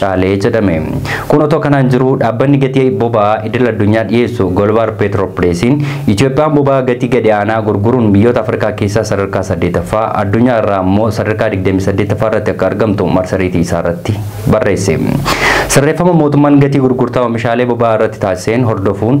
caalee jedhame. Kun otoo kanaan jiruu dhaabbanni gatii boba'aa idil addunyaa dhiyeessu Golbaar Peetiroopireesiin Itoophiyaan boba'aa gatii gadi aanaa gurguruun biyyoota Afrikaa keessaa sadarkaa 8ffaa addunyaa irraa ammoo sadarkaa 28ffaa irratti akka argamtu marsariitii isaa irratti barreesse. Sirreeffama mootummaan gatii gurgurtaa oomishaalee boba'aa irratti taasiseen hordofuun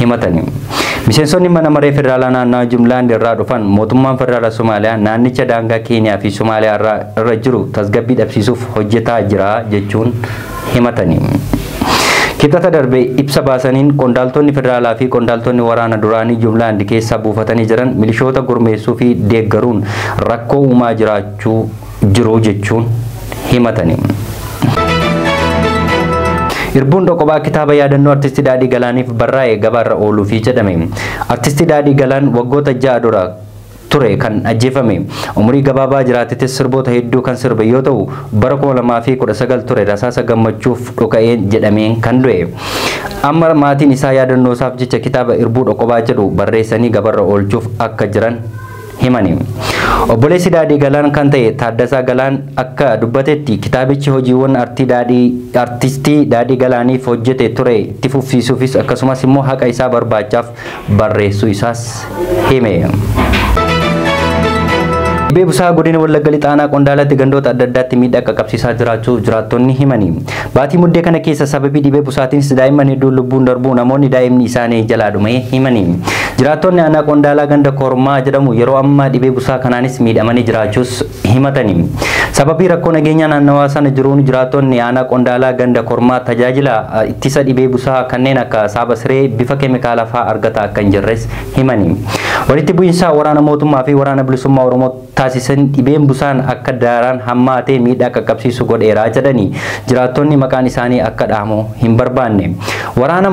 himatani. Miseensonni mana maree federaalaa naannawa Jumlaand irraa dhufan mootummaan federaala Somaaliyaa naannicha daangaa Keeniyaa fi Somaaliyaa irraa irra jiru tasgabbii dhabsiisuuf hojjetaa jira jechuun himatani. Kibxata darbe ibsa baasaniin qondaaltonni federaalaa fi qondaaltonni waraana duraanii Jumlaand keessaa buufatanii jiran milishoota gurmeessuu fi deeggaruun rakkoo uumaa jiraachuu jiru jechuun himatani. Irbuun Dhoqobaa kitaaba yaadannoo Artisti Daadhii Galaaniif barraa'e gabaarra ooluufi jedhame. Artisti Daadhii Galaan waggoota ja'a dura ture kan ajjeefame. Umurii gabaabaa jiraatetis sirboota hedduu kan sirbe yoo ta'u, bara 2019 ture rasaasa gammachuuf dhuka'een jedhameen kan du'e. Amma maatiin isaa yaadannoosaaf jecha kitaaba Irbuu Dhoqobaa jedhu barreessanii gabarra oolchuuf akka jiran himani. Obboleessi Daadhii Galaan kan ta'e Taaddasaa Galaan akka dubbatetti kitaabichi hojiiwwan artii Daadhii artistii Daadhii Galaaniif hojjete ture itti fufsiisuufis akkasumas immoo haqa isaa barbaachaaf barreessuu isaas hime. Dhibee busaa godina Wallagga Lixaanaa Qondaalatti gandoota adda addaatti miidhaa qaqqabsiisaa jiraachuu jiraattonni himani. Baatii Muddee kana keessa sababii dhibee busaatiinis daa'imman hedduun lubbuun darbuu namoonni daa'imni isaanii jalaa dhume himani. Jiraattonni aanaa Qondaalaa ganda Kormaa jedhamu yeroo ammaa dhibee busaa kanaanis miidhamanii jiraachuus himatani. Sababii rakkoo nageenyaa naannawaa sana jiruun jiraattonni aanaa Qondaalaa ganda Kormaa tajaajila ittisa dhibee busaa kanneen akka saaba siree bifa keemikaalaa fa'aa argataa akka hin jirres himani. Walitti bu'iinsa waraana mootummaa fi waraana bilisummaa Oromoo taasisan dhibeen busaan akka daaraan hammaatee miidhaa qaqqabsiisu godheera jedhani jiraattonni maqaan isaanii akka dhahamu hin barbaanne. Waraana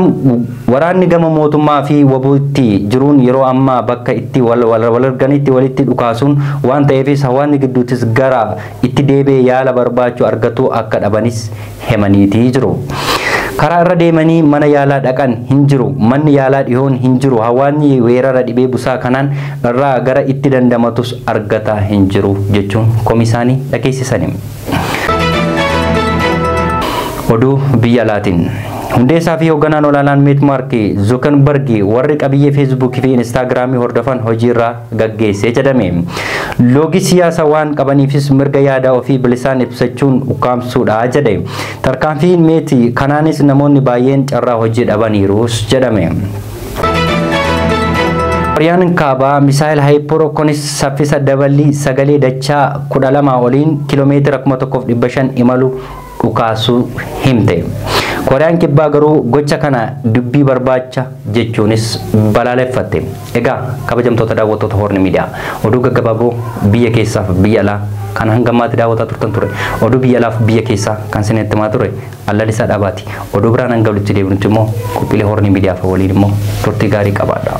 Waraanni gama mootummaa fi wbo tti jiruun yeroo ammaa bakka itti wal walarganitti walitti dhukaasuun waan ta'eefis hawaasni gidduuttis gara itti deebi'ee yaala barbaachu argatu akka dhabanis hemaniitii jiru. Karaa irra deemanii mana yaalaa dhaqan hin jiru. Manni yaalaa dhihoon hin jiru. Hawaasni weerara dhibee busaa kanaan irraa gara itti dandamatus argataa hin jiru jechuun komii isaanii dhageessisani. Oduu biyya alaatiin. Hundeessaa fi hoogganaan olaanaan Meet Maarki Zuukanbargi warri qabiyyee Feesbuukii fi Inistaagiraamii hordofan hojiirraa gaggeesse jedhame. Loogi siyaasa waan qabaniifis mirga yaada ofii bilisaan ibsachuun ukkaamsuudha jedhe. Tarkaanfiin meeti kanaanis namoonni baay'een carraa hojii dhabaniiruus jedhame. Kooriyaan kaabaa misaayil haayipoorookonis saffisa daballii sagalee dachaa 12 oliin kiiloomeetira 1500 imalu dhukaasuu himte. Kooriyaan Kibbaa garuu gocha kana dubbii barbaacha jechuunis balaaleffatte. Egaa kabajamtoota daawwattoota Hoorni Miidiyaa oduu gaggabaaboo biyya keessaaf biyya alaa kan hanga ammaatti daawwataa turtan ture. Oduu biyya alaaf biyya keessaa kan isinitti himaa ture Allalisaa Dhaabaati. Oduu biraan hanga walitti deebinutti immoo qophiilee Hoorni Miidiyaaf waliin immoo turtii gaarii qabaadhaa.